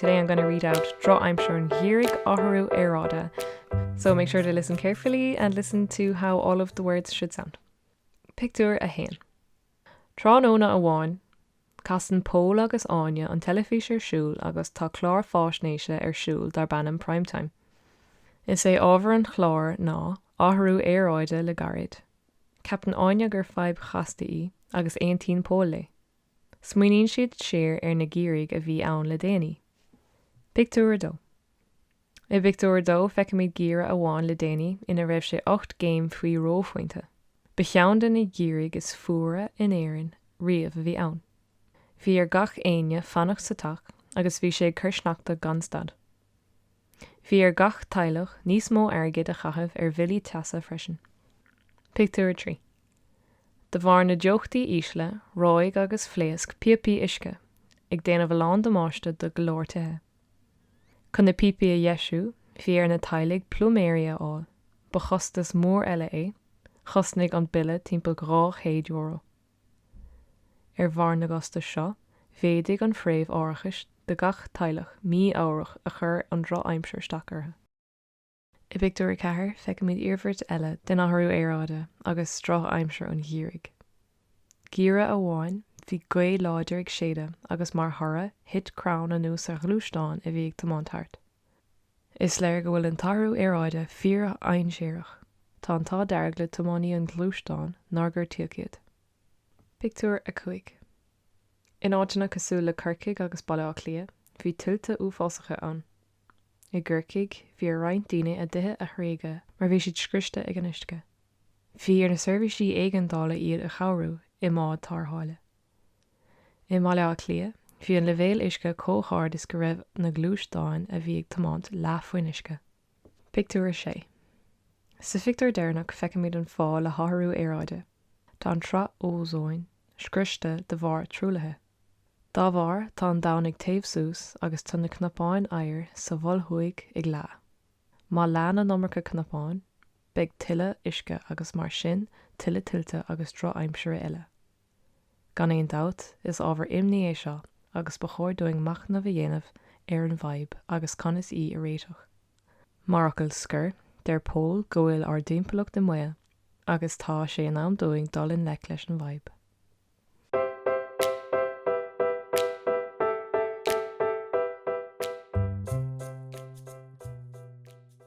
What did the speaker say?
Today I'm gonna read out Drochaimsir an Gheimhridh Athrú Aeráide So make sure to listen carefully and listen to how all of the words should sound. Pictiúr 1 Tráthnóna amháin, casann Pól agus Áine an teilifís ar siúl agus tá clár fáisnéise ar siúl darb ainm Prime Time. Is é ábhar an chláir ná athrú aeráide le gairid. Ceapann Áine gur fadhb chasta í agus aontaíonn Pól léi. Smaoiníonn siad siar ar na geimhrí a bhí ann le déanaí. Pictiúr 2 I bpictiúr a dó feicimid geimhreadh amháin le déanaí ina raibh sé ocht gcéim faoi reophointe. Ba cheann de na geimhrí is fuaire in Éirinn riamh a bhí ann. Bhí ar gach éinne fanacht sa teach agus bhí sé ag cur sneachta gan stad. Bhí ar gach teaghlach níos mó airgid a chaitheamh ar bhillí teasa freisin. Pictiúr 3 De bharr na dteochtaí ísle, reoigh agus phléasc píopaí uisce, ag déanamh a lán damáiste do go leor tithe. Chun na píopaí a dheisiú, bhí ar na teaghlaigh pluiméirí a fháil, ba chostas mór eile é, chosnaigh an bille timpeall €200. Ar bharr na gcostas seo, mhéadaigh an phréimh árachais do gach teaghlach mí-ámharach a chuir an drochaimsir isteach orthu. I bpictiúr a ceathair, feicimid iarmhairt eile den athrú aeráide agus drochaimsir an gheimhridh. Geimhreadh amháin, bhí gaoth láidir ag séideadh agus mar thoradh, thit crann anuas ar ghluaisteán a bhí ag tiomáint thart. Is léir go bhfuil an t-athrú aeráide fíordhainséarach. Tá an t-ádh dearg le tiománaí an ghluaisteáin nár gortaíodh iad. Pictiúr 5 In áiteanna cosúil le Corcaigh agus Baile Átha Cliath, bhí tuilte uafásacha ann. I gCorcaigh, bhí ar roinnt daoine a dtithe a thréigean mar bhí siad scriosta ag an uisce. Bhí ar na seirbhísí éigeandála iad a chabhrú i mbád tarrthála. I mBaile Átha Cliath, bhí an leibhéal uisce chomh hard is go raibh na gluaisteáin a bhí ag tiomáint leath faoin uisce. Pictiúr 6 Sa phictiúr deireanach feicimid an fáth le hathrú aeráide, tá an tsraith ózóin scriosta de bharr truaillithe. Dá bharr, tá an domhan ag téamh suas agus tá na cnapáin oighir sa Mhol Thuaidh ag leá. Má leánn an iomarca cnapán, beidh tuilleadh uisce agus mar sin tuilleadh tuilte agus drochaimsire eile. Gan aon dabht, is ábhar imní é seo agus ba chóir dúinn machnamh a dhéanamh ar an bhfadhb agus conas í a réiteach. Mar fhocal scoir, deir Pól go bhfuil ár dtimpeallacht i mbaol agus tá sé in am dúinn dul i ngleic leis an bhfadhb.